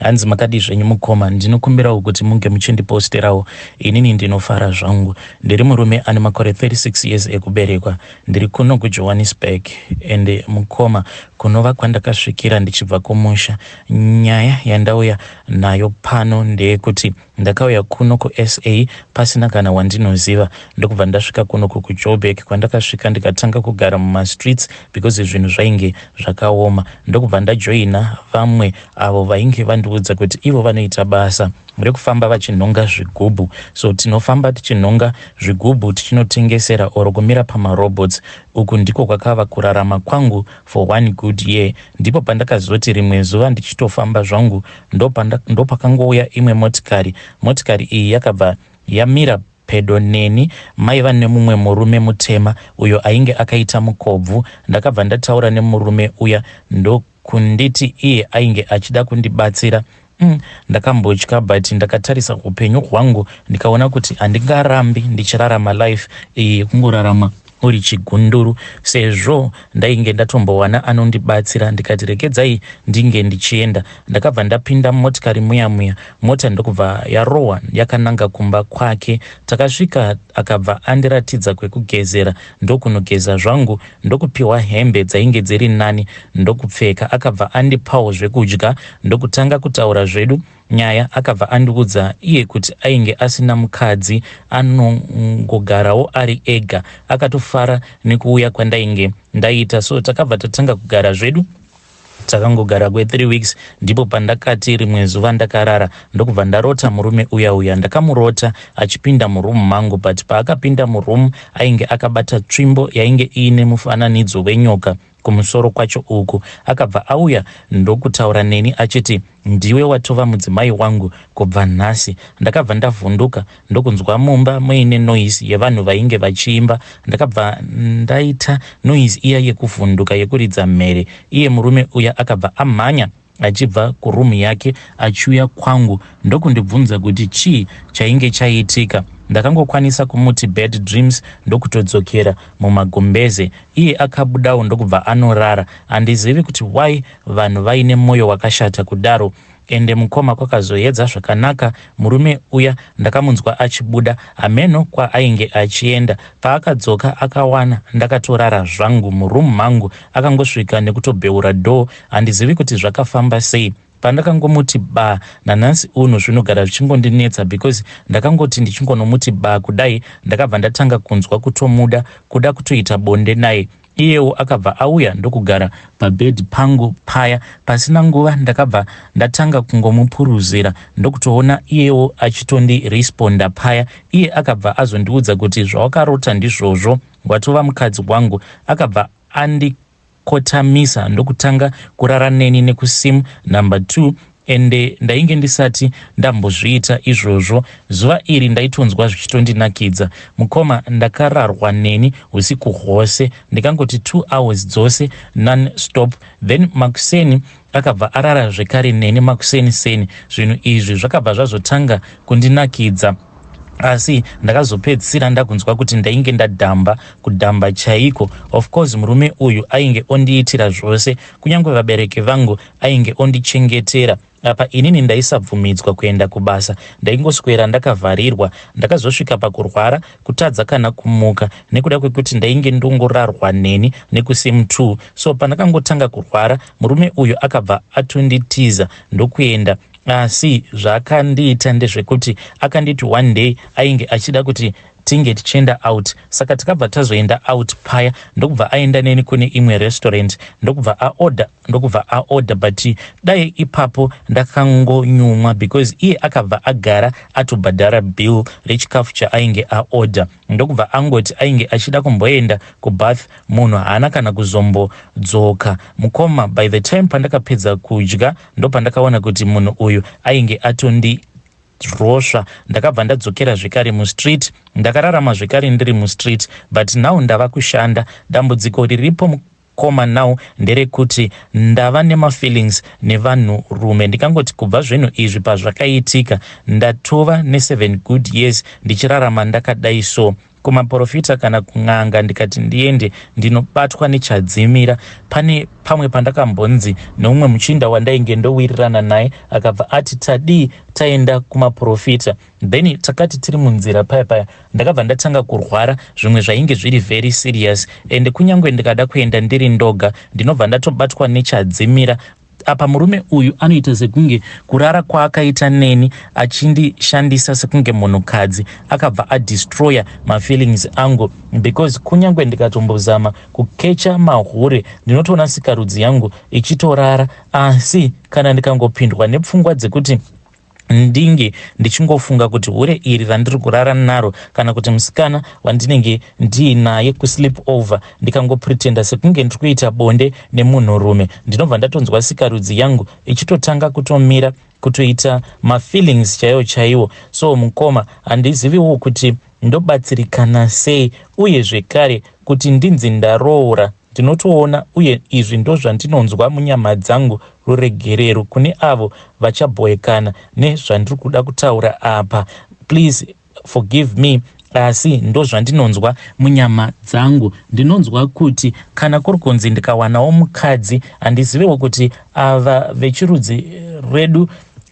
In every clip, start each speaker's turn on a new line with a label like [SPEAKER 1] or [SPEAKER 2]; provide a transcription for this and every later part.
[SPEAKER 1] Hanzi makadii zvenyu mukoma, ndinokumbirawo kuti munge muchindiposterawo inini ndinofara zvangu. Ndiri murume ane makore 36 years ekuberekwa. Ndiri kuno kuJohannesburg and mukoma kunova kwandakasvikira ndichibva kumusha. Nyaya yandauya nayo pano ndeyekuti. Ndakauya kuno kuSA pasina kana wandinoziva ndokubva ndasvika kuno ku kuJoburg kwandakasvika ndikatanga kugara mumastreets because zvinhu zvainge zvakaoma ndokubva ndajoina vamwe avo vainge vandiudza kuti ivo vanoita basa rekufamba vachinhonga zvigubhu so tinofamba tichinhonga zvigubhu tichinotengesera or kumira pamarobots uku ndiko kwakava kurarama kwangu for one good year ndipo pandakazoti rimwe zuva ndichitofamba zvangu Ndopakangouya imwe motikari. Motikari iyi yakabva yamira pedo neni. Maiva nemumwe murume mutema uyo ainge akaita mukobvu. Ndakabva ndataura nemurume uya ndokunditi iye ainge achida kundibatsira. Umm ndakambotya but ndakatarisa hupenyu hwangu ndikaona kuti handingarambi ndichirarama life iyi yekungorarama uri chigunduru sezvo ndainge ndatombowana anondibatsira ndikati regedzai ndinge ndichienda ndakabva ndapinda mumotikari muya muya mota ndokubva yarohwa yakananga kumba kwake takasvika akabva andiratidza kwekugezera ndokunogeza zvangu ndokupiwa hembe dzainge dziri nani ndokupfeka akabva andipawo zvekudya ndokutanga kutaura zvedu Nyaya akabva andiudza iye kuti ainge asina mukadzi anongogarawo ari ega. Akatofara nekuuya kwandainge ndaita so takabva tatanga kugara zvedu. Takangogara kwe 3 weeks ndipo pandakati rimwe zuva ndakarara ndokubva ndarota murume uya uya. Ndakamurota achipinda muroom mangu but paakapinda muroom ainge akabata tsvimbo yainge iine mufananidzo wenyoka. kumusoro kwacho uku akabva auya ndokutaura neni achiti ndiwe watova mudzimai wangu kubva nhasi ndakabva ndavhunduka ndokunzwa mumba muine noise yevanhu vainge vachiimba ndakabva ndaita noise iya yekuvhunduka yekuridza mhere iye murume uya akabva amhanya achibva kuroom yake achiuya kwangu ndokundibvunza kuti chii chainge chaitika. Ndakangokwanisa kumuti bad dreams ndokutodzokera mumagumbeze. Iye akabudawo ndokubva anorara. Handizivi kuti why vanhu vaine moyo wakashata kudaro. Ende mukoma kwakazoedza zvakanaka murume uya ndakamunzwa achibuda hameno kwaainge achienda. Paakadzoka akawana ndakatorara zvangu muroom mangu. Akangosvika nekutobheura door handizivi kuti zvakafamba sei pandakangomuti ba nanhasi uno zvinogara zvichingondinetsa because ndakangoti ndichingonomuti ba kudai ndakabva ndatanga kunzwa kutomuda kuda kutoita bonde naye iyewo akabva auya ndokugara pabhedhi pangu paya pasina nguva ndakabva ndatanga kungomupuruzira ndokutoona iyewo achitondiresponda paya iye akabva azondiudza kuti zvawakarota ndizvozvo watova mukadzi wangu akabva andi kotamisa ndokutanga kurara neni nekusim number two ende ndainge ndisati ndambozviita izvozvo. Zuva iri ndaitonzwa zvichitondinakidza. Mukoma ndakararwa neni husiku hwose ndikangoti two hours dzose non stop then makuseni akabva arara zvekare neni makuseni seni. Zvinhu izvi zvakabva zvazotanga kundinakidza. asi ndakazopedzisira ndakunzwa kuti ndainge ndadhamba kudhamba chaiko of course murume uyu ainge ondiitira zvose kunyange vabereki vangu ainge ondichengetera apa inini ndaisabvumidzwa kuenda kubasa ndaingoswera ndakavharirwa ndakazosvika pakurwara kutadza kana kumuka nekuda kwekuti ndainge ndongorarwa neni nekusim t so pandakangotanga kurwara murume uyu akabva atonditiza ndokuenda Asi zvaakandiita ndezvekuti akanditi one day ainge achida kuti tinge tichienda out saka tikabva tazoenda out paya ndokubva aenda neni kune imwe restaurant ndokubva aorder ndokubva aorder but dai ipapo ndakangonyumwa because iye akabva agara atobhadhara bill rechikafu chaainge aorder ndokubva angoti ainge achida kumboenda kubath munhu haana kana kuzombodzoka mukoma by the time pandakapedza kudya ndopandakaona kuti munhu uyu ainge atondi rosva ndakabva ndadzokera zvekare mustreet ndakararama zvekare ndiri mustreet but now ndava kushanda dambudziko riripo Koma now nderekuti ndava nemafeelings nevanhu rume ndikangoti kubva zvinhu izvi pazvakaitika ndatova neseven good years ndichirarama ndakadai so kumaporofita kana kun'anga ndikati ndiende ndinobatwa nechadzimira pane pamwe pandakambonzi neumwe muchinda wandainge ndowirirana naye akabva ati tadii taenda kumaporofita then takati tiri munzira paya paya ndakabva ndatanga kurwara zvimwe zvainge zviri very serious ende kunyange ndikada kuenda ndiri ndoga ndinobva ndatobatwa nechadzimira apa murume uyu anoita sekunge kurara kwaakaita neni achindishandisa sekunge munhukadzi akabva adestroyer mafeelings angu because kunyange ndikatombozama kukecha mahure ndinotoona sikarudzi yangu ichitorara asi kana ndikangopindwa nepfungwa dzekuti ndinge ndichingofunga kuti hure iri randiri kurara naro kana kuti musikana wandinenge ndiinaye kusleep over ndikangopretenda sekunge ndiri kuita bonde nemunhurume ndinobva ndatonzwa sikarudzi yangu ichitotanga kutomira kutoita mafeelings chaiwo chaiwo so mukoma handiziviwo kuti ndobatsirikana sei uye zvekare kuti ndinzi ndaroora Ndinotoona uye izvi ndozvandinonzwa munyama dzangu ruregerero kune avo vachabhoekana nezvandiri kuda kutaura apa please forgive me asi ndozvandinonzwa munyama dzangu ndinonzwa kuti kana kuri kunzi ndikawanawo mukadzi handizivewo kuti ava vechirudzi rwedu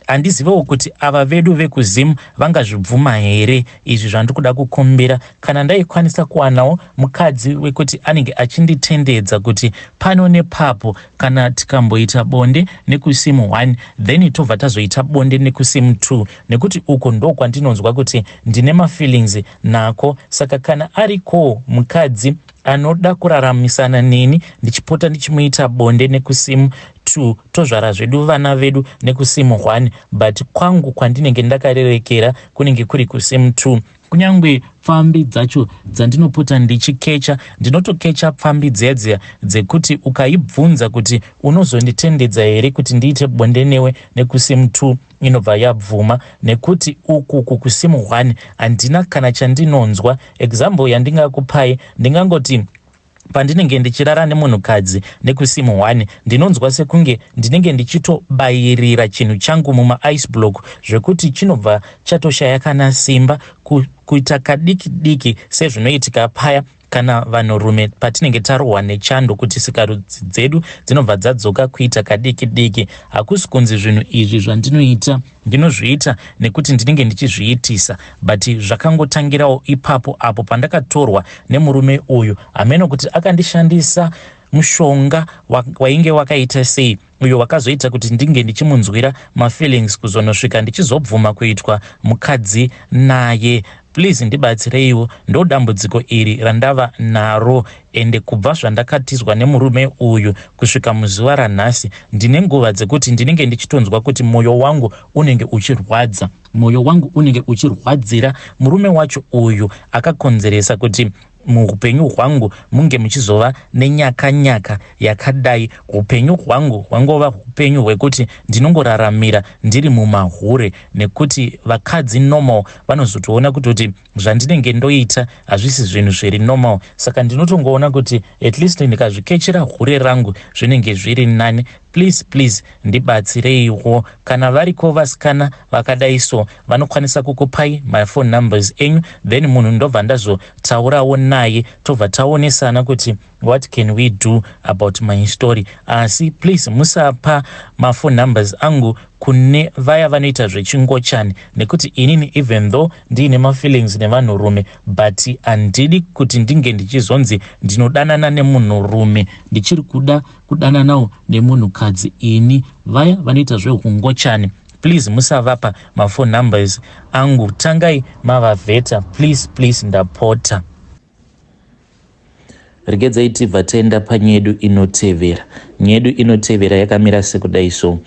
[SPEAKER 1] handizivewo kuti ava vedu vekuzim vangazvibvuma here izvi zvandiri kuda kukumbira kana ndaikwanisa kuwanawo mukadzi wekuti anenge achinditendedza kuti pano nepapo kana tikamboita bonde nekusim one then tobva tazoita bonde nekusim two nekuti uko ndokwandinonzwa kuti ndine mafeelings nako saka kana arikowo mukadzi Anoda kuraramisana neni ndichipota ndichimuita bonde nekusim two tozvara zvedu vana vedu nekusim one but kwangu kwandinenge ndakarerekera kunenge kuri kusim two. Kunyangwe pfambi dzacho dzandinopota ndichikecha ndinotokecha pfambi dziya dziya dzekuti ukaibvunza kuti unozonditendedza here kuti ndiite bonde newe nekusim two. inobva yabvuma nekuti uku kukusim one handina kana chandinonzwa example yandingakupai ndingangoti pandinenge ndichirara nemunhukadzi nekusim one ndinonzwa sekunge ndinenge ndichitobayirira chinhu changu mumaice block zvekuti chinobva chatoshaya kana simba kuita kadiki diki sezvinoitika paya Kana vanhurume patinenge tarohwa nechando kuti sikarudzi dzedu dzinobva dzadzoka kuita kadiki diki, hakusi kunzi zvinhu izvi zvandinoita ndinozviita nekuti ndinenge ndichizviitisa but zvakangotangirawo ipapo apo pandakatorwa nemurume uyu hameno kuti akandishandisa mushonga wainge wakaita sei uyo wakazoita kuti ndinge ndichimunzwira mafeelings kuzonosvika ndichizobvuma kuitwa mukadzi naye please ndibatsireiwo ndodambudziko iri randava naro ende kubva zvandakatizwa nemurume uyu kusvika muzuva ranhasi ndine nguva dzekuti ndinenge ndichitonzwa kuti mwoyo wangu unenge uchirwadza mwoyo wangu unenge uchirwadzira murume wacho uyu akakonzeresa kuti muhupenyu hwangu munge muchizova nenyakanyaka yakadai hupenyu hwangu hwangova hupenyu hwekuti ndinongoraramira ndiri mumahure nekuti vakadzi normal vanozotoona kutoti zvandinenge ndoita hazvisi zvinhu zviri normal saka ndinotongoona kuti at least ndikazvikechera hure rangu zvinenge zviri nani Please please ndibatsireiwo kana variko vasikana vakadai so vanokwanisa kukupai ma phone numbers enyu then munhu ndobva ndazotaurawo naye tobva taonesana kuti what can we do about my story asi please musapa ma phone numbers angu kune vaya vanoita zvechingochani nekuti inini even though ndiine mafeelings nevanhurume but handidi kuti ndinge ndichizonzi ndinodanana nemunhurume ndichiri kuda kudananawo nemunhu kadzi ini vaya vanoita zvehukungochani please musavapa mafour numbers angu tangai mavavheta please please ndapota regedzai tibva taenda panyedu inotevera nyedu inotevera yakamira sekudai so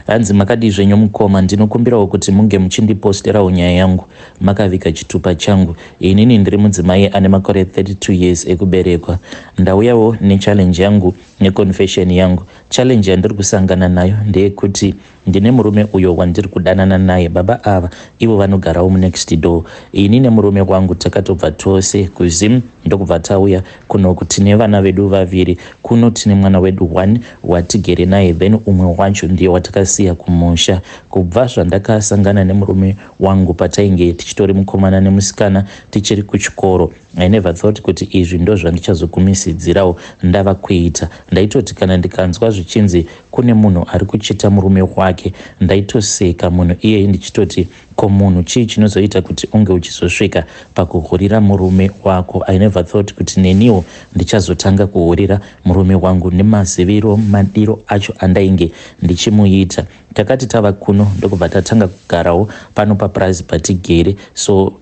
[SPEAKER 1] Hanzi makadii zvenyu mukoma, ndinokumbirawo kuti munge muchindiposterawo nyaya yangu makavika chitupa changu. Inini ndiri mudzimai ane makore 32 years ekuberekwa. Ndauyawo nechallenge yangu neconfession yangu. Challenge yandiri kusangana nayo ndeyekuti ndine murume uyo wandiri kudanana naye. Baba ava ivo vanogarawo munext door. Ini nemurume wangu takatobva tose kuZim ndokubva tauya Kunoku tine vana vedu vaviri. Kuno tine mwana wedu one watigere naye then umwe wacho ndiye watakasiya kumusha. Kubva zvandakasangana nemurume wangu patainge tichitori mukomana nemusikana tichiri kuchikoro I never thought kuti izvi ndozvandichazogumisidzirawo ndava kuita. Ndaitoti kana ndikanzwa zvichinzi kune munhu ari kuchita murume wake ndaitoseka munhu iyeye ndichitoti Ko munhu chii chinozoita kuti unge uchizosvika pakuhurira murume wako? I never thought kuti neniwo ndichazotanga kuhurira murume wangu nemaziviro madiro acho andainge ndichimuita. Takati tava kuno ndokubva tatanga kugarawo pano papurazi patigere. So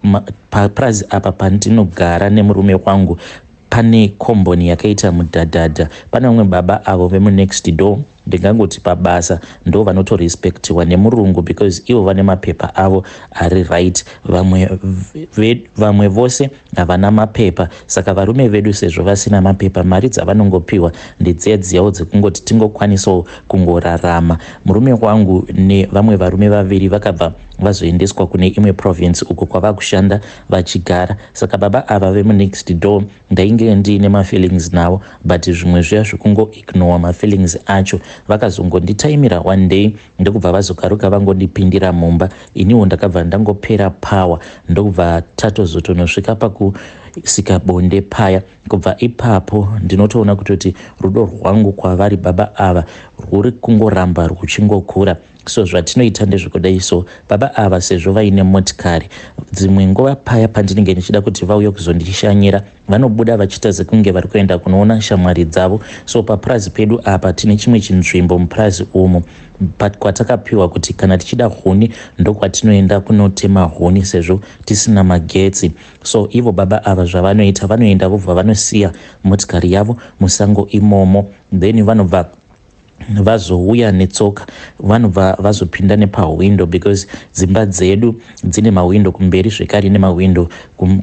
[SPEAKER 1] papurazi apa pandinogara nemurume wangu pane komboni yakaita mudhadhadha. Pane vamwe baba avo vemunext door Ndingangoti pabasa ndovanoto respectiwa nemurungu because ivo vane mapepa avo ari right vamwe vamwe vose havana mapepa saka varume vedu sezvo vasina mapepa mari dzavanongopiwa ndedziya dziyawo dzekungoti tingokwanisawo kungorarama murume wangu nevamwe varume vaviri vakabva vazoendeswa kune imwe province uko kwavakushanda vachigara saka baba ava vemunext door Ndainge ndiine mafeelings navo but zvimwe zviya zvekungo ignowa mafeelings acho. Vakazongonditaimira one day ndokubva vazokaruka vangondipindira mumba. Iniwo ndakabva ndangopera power ndokubva tatozotonosvika paku sika bonde paya kubva ipapo ndinotoona kutoti rudo rwangu kwavari baba ava rwuri kungoramba rwuchingokura so zvatinoita ndezvekudai so baba ava sezvo vaine motikari dzimwe nguva paya pandinenge ndichida kuti vauye kuzondishanyira vanobuda vachiita sekunge vari kuenda kunoona shamwari dzavo so papurazi pedu apa tine chimwe chinzvimbo mupurazi umu kwatakapiwa kuti kana tichida huni ndokwatinoenda kunotema huni sezvo tisina magetsi so ivo baba ava zvavanoita vanoenda vobva vanosiya motikari yavo musango imomo then vanobva vazouya netsoka vanobva vazopinda nepahwindo because dzimba dzedu dzine mahwindo kumberi zvekare nemahwindo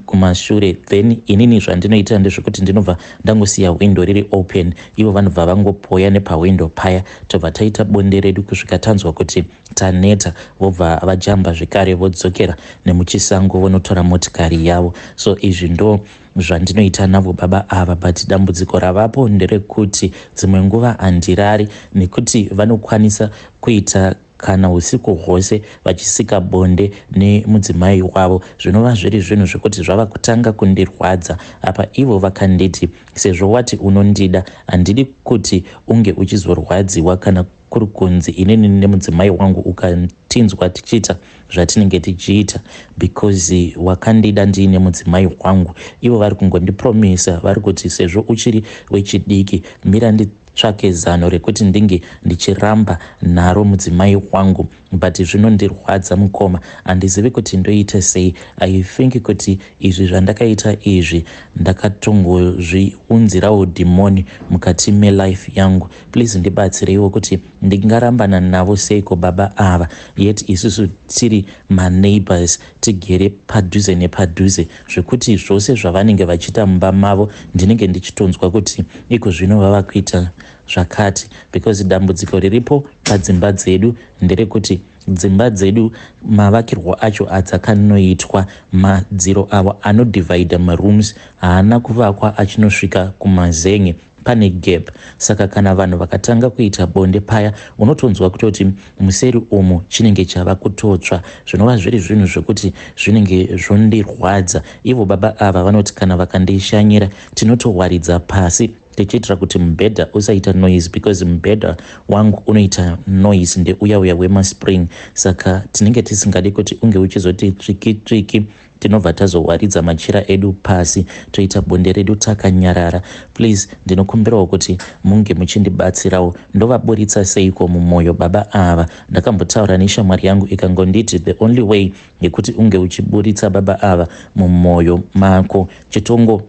[SPEAKER 1] kumashure then inini zvandinoitira ndezvekuti ndinobva ndangosiya hwindo riri open ivo vanobva vangopoya nepahwindo paya tobva taita bonde redu kusvika tanzwa kuti taneta vobva vajamba zvekare vodzokera nemuchisango vonotora motikari yavo so izvi ndo zvandinoita navo baba ava but dambudziko ravapo nderekuti dzimwe nguva handirari nekuti vanokwanisa kuita kana usiku hwose vachisika bonde nemudzimai wavo zvinova zviri zvinhu zvekuti zvava kutanga kundirwadza apa ivo vakanditi sezvo wati unondida handidi kuti unge uchizorwadziwa kana kuri kunzi inini nemudzimai wangu ukatinzwa tichiita zvatinenge tichiita because wakandida ndiine mudzimai wangu ivo vari kungondipromisa vari kuti sezvo uchiri wechidiki mira nditsvake zano rekuti ndinge ndichiramba naro mudzimai wangu but zvinondirwadza mukoma handizivi kuti ndoite sei i think kuti izvi zvandakaita izvi ndakatongozviunzirawo dhimoni mukati melife yangu Please ndibatsireiwo kuti ndingarambana navo seiko baba ava yet isusu tiri maneighbors tigere padhuze nepadhuze zvekuti zvose zvavanenge vachiita mumba mavo ndinenge ndichitonzwa kuti iko zvino vava kuita zvakati because dambudziko riripo padzimba dzedu nderekuti dzimba dzedu mavakirwo acho adzakanoitwa madziro avo anodivhaidha marooms haana kuvakwa achinosvika kumazenge pane gap saka kana vanhu vakatanga kuita bonde paya unotonzwa kutoti museri umu chinenge chava kutotsva zvinova zviri zvinhu zvekuti zvinenge zvondirwadza ivo baba ava vanoti kana vakandishanyira tinotowaridza pasi tichiitira kuti mubhedha usaita noise because mubhedha wangu unoita noise ndeuya uya wemaspring saka tinenge tisingadi kuti unge uchizoti tsviki tsviki tinobva tazowaridza machira edu pasi toita bonde redu takanyarara please ndinokumbirawo kuti munge muchindibatsirawo ndovaburitsa seiko mumwoyo baba ava ndakambotaura neshamwari yangu ikangonditi the only way yekuti unge uchiburitsa baba ava mumwoyo mako chitongo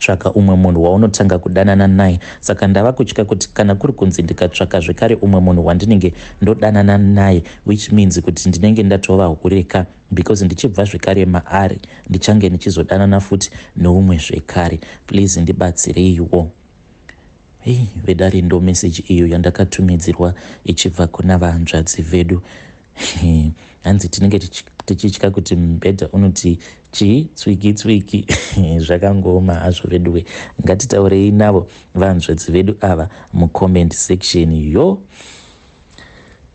[SPEAKER 1] tsvaka umwe munhu waunotanga kudanana naye saka ndava kutya kuti kana kuri kunzi ndikatsvaka zvekare umwe munhu wandinenge ndodanana naye which means kuti ndinenge ndatova hure ka because ndichibva zvekare maari ndichange ndichizodanana futi neumwe zvekare please ndibatsireiwo Hey, vedare ndomeseji iyo yandakatumidzirwa ichibva kuna vahanzvadzi vedu hanzi tinenge tichitya kuti mubhedha unoti chii tswiki tswiki zvakangooma hazvo veduwe ngatitaurei navo vahanzvadzi vedu ava mucomment section yo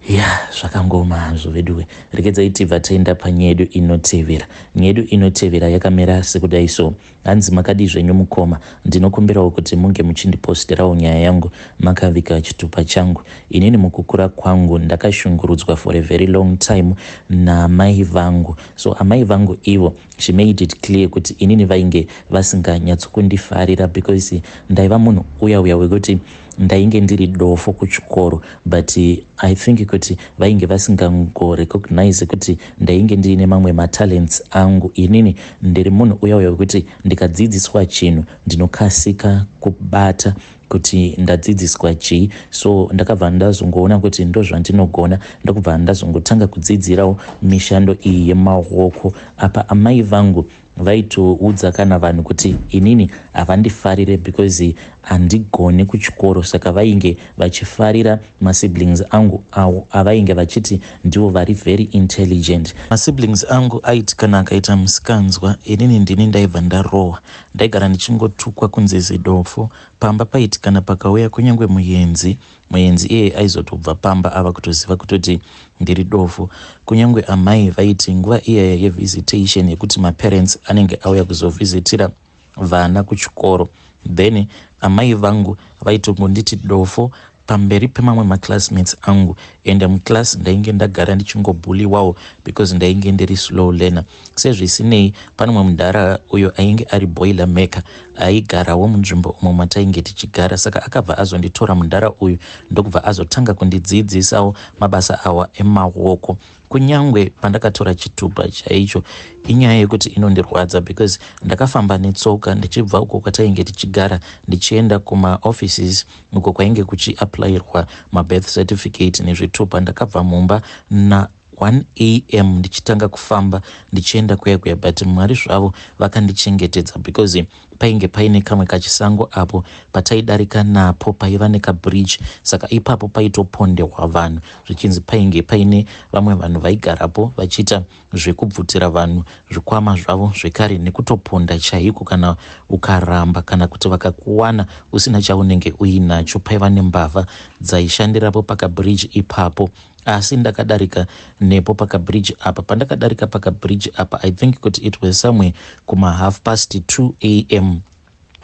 [SPEAKER 1] ya zvakangooma hazvo veduwe regedzai tibva taenda panyedu inotevera nyedu inotevera yakamera sekudai so hanzi makadii zvenyu mukoma ndinokumbirawo kuti munge muchindipostirawo nyaya yangu makavika chitupa changu inini mukukura kwangu ndakashungurudzwa for a very long time naamai vangu so amai vangu ivo she made it clear kuti inini vainge vasinganyatsokundifarira because ndaiva munhu uya uya wekuti ndainge ndiri dofo kuchikoro but i think kuti vainge vasingangorecognize kuti ndainge ndiine mamwe matalents angu inini ndiri munhu uya uya wekuti ndikadzidziswa chinhu ndinokasika kubata kuti ndadzidziswa chii so ndakabva ndazongoona kuti ndozvandinogona ndokubva ndazongotanga kudzidzirawo mishando iyi yemaoko apa amai vangu vaitoudza kana vanhu kuti inini havandifarire because handigone kuchikoro saka vainge vachifarira masiblings angu awo avainge vachiti ndivo vari very intelligent masiblings angu aiti kana akaita musikanzwa inini ndini ndaibva ndarohwa ndaigara ndichingotukwa kunzi zidofo pamba paiti kana pakauya kunyange muyenzi Muenzi iyeye aizotobva pamba ava kutoziva kutoti ndiri dofo. Kunyangwe amai vaiti nguva iyaya yevisitation yekuti maparents anenge auya kuzovhizitira vana kuchikoro then amai vangu vaitongonditi dofo pamberi pemamwe maclassmates angu and muclass ndainge ndagara ndichingobuliwawo because ndainge ndiri slow learner. Sezvisinei, pane mumwe mudhara uyo ainge ari boiler maker aigarawo munzvimbo umo matainge tichigara saka akabva azonditora mudhara uyu ndokubva azotanga kundidziidzisawo mabasa awa emawoko kunyange pandakatora chitupa chaicho inyaya yekuti inondirwadza because ndakafamba netsoka ndichibva uko kwatainge tichigara ndichienda kumaoffices uko kwainge kuchiapplyirwa mabirth certificate nezvitupa ndakabva mumba na 1am ndichitanga kufamba ndichienda kuya kuya but mwari zvavo vakandichengetedza because painge paine kamwe kachisango apo pataidarika napo paiva nekabridge saka ipapo paitopondehwa vanhu zvichinzi painge paine vamwe vanhu vaigarapo vachiita zvekubvutira vanhu zvikwama zvavo zvekare nekutoponda chaiko kana ukaramba kana kuti vakakuwana usina chaunenge uinacho paiva nembavha dzaishandirapo pakabridge ipapo asi ndakadarika nepo pakabridge apa pandakadarika pakabridge apa i think kuti it was somewhere kuma half past 2 a m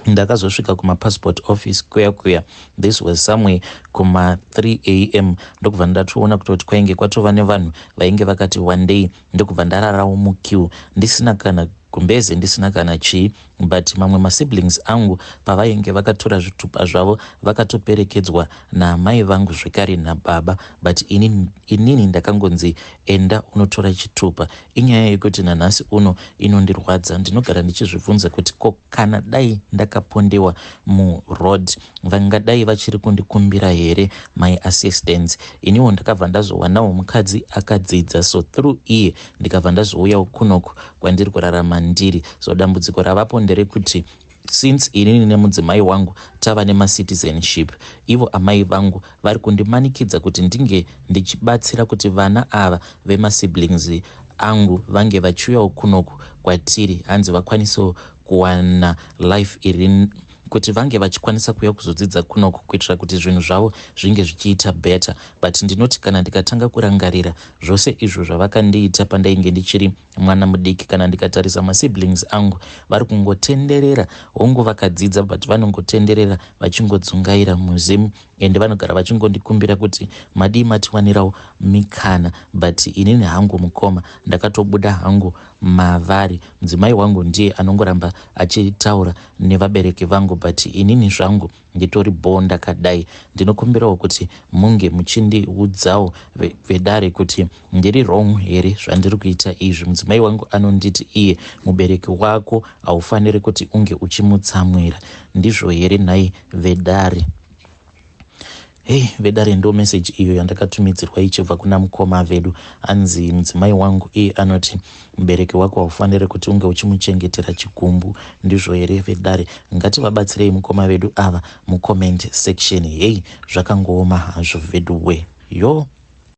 [SPEAKER 1] ndakazosvika kumapassport office kuya kuya this was somewhere kuma 3 a m ndokubva ndatoona kutoti kwainge kwatova nevanhu vainge vakati wandei ndokubva ndararawo muqueue ndisina kana gumbeze ndisina kana chii but mamwe masiblings angu pavainge vakatora zvitupa zvavo vakatoperekedzwa naamai vangu zvekare nababa but inini, inini ndakangonzi enda unotora chitupa inyaya yekuti nanhasi uno inondirwadza ndinogara ndichizvibvunza kuti ko kana dai ndakapondewa muroad vangadai vachiri kundikumbira here my assistance iniwo ndakabva ndazowanawo mukadzi akadzidza so through iye ndikabva ndazouyawo kunoku kwandiri kurarama ndiri so dambudziko ravapo nderekuti since inini nemudzimai wangu tava nemacitizenship ivo amai vangu vari kundimanikidza kuti ndinge ndichibatsira kuti vana ava vemasiblings angu vange vachiuyawo kunoku kwatiri hanzi vakwanisewo kuwana life iri kuti vange vachikwanisa kuuya kuzodzidza kunoku kuitira kuti zvinhu zvavo zvinge zvichiita better but ndinoti kana ndikatanga kurangarira zvose izvo zvavakandiita pandainge ndichiri mwana mudiki kana ndikatarisa masiblings angu vari kungotenderera hongu vakadzidza but vanongotenderera vachingodzungaira muzimu ende vanogara vachingondikumbira kuti madii matiwanirawo mikana but inini hangu mukoma ndakatobuda hangu mavari mudzimai wangu ndiye anongoramba achitaura nevabereki vangu but inini zvangu nditori bho ndakadai ndinokumbirawo kuti munge muchindiudzawo vedare kuti ndiri wrong here zvandiri kuita izvi mudzimai wangu anonditi iye mubereki wako haufaniri kuti unge uchimutsamwira ndizvo here nhai vedare Hey, vedare ndo message iyo yandakatumidzirwa ichibva kuna mukoma vedu anzi mudzimai wangu iye anoti mubereki wako haufanire kuti unge uchimuchengetera chigumbu ndizvo here vedare ngativabatsirei mukoma vedu ava mucomment section hey zvakangooma hazvo veduwe yoo